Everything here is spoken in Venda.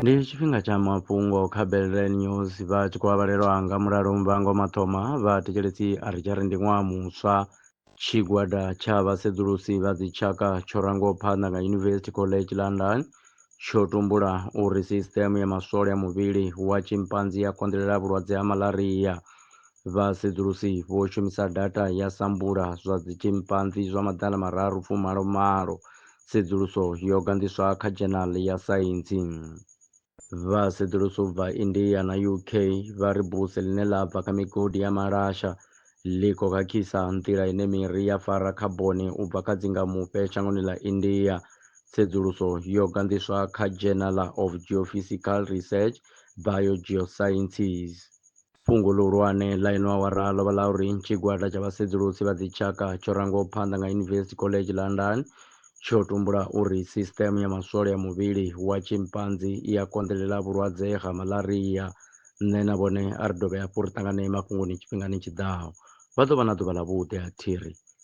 ndi tshifhinga tsha mafhungo kha belrel news vha tshi khou avhalelwa nga mulalo muvhango mathoma vha thetshelesi a ri tshari ndi ṅwaha muswa tshigwada tsha vhasedzulusi vha dzitshaka tsho rangaho phanḓa nga university college london tsho tumbula uri sisiteme ya maswole a muvhili wa tshimpanzi ya konḓelela vhulwadze ha malaria Vhasedzulusi vho shumisa data ya sampula zwa dzitshimpanzi zwa maḓala mararu fumalo malo. Tsedzuluso yo ganḓiswa kha Journal ya Saintsi. Vhasedzulusi u bva India na UK vha ri buse ḽine ḽa bva kha migodi ya malasha ḽi khou khakhisa nḓila ine miri ya fara khaboni u bva kha dzingamufhe shangoni ḽa India. Tsedzuluso yo ganḓiswa kha Journal of Geophysical Research, Biogeosciences. Fhungo ḽihulwane ḽa ino awara ḽo vha ḽa uri tshigwada tsha vhasedzulusi vha dzitshaka tsho rangwaho phanḓa nga University College London tsho tumbula uri sisṱeme ya maswole a muvhili wa tshimpanzi i a konḓelela vhulwadze ha malaria. Nṋe na vhone a ri dovhe hafhu ri ṱanganee mafhungoni tshifhingani tshi ḓaho. Vha ḓo vha na ḓuvha ḽavhuḓi, a thi ri.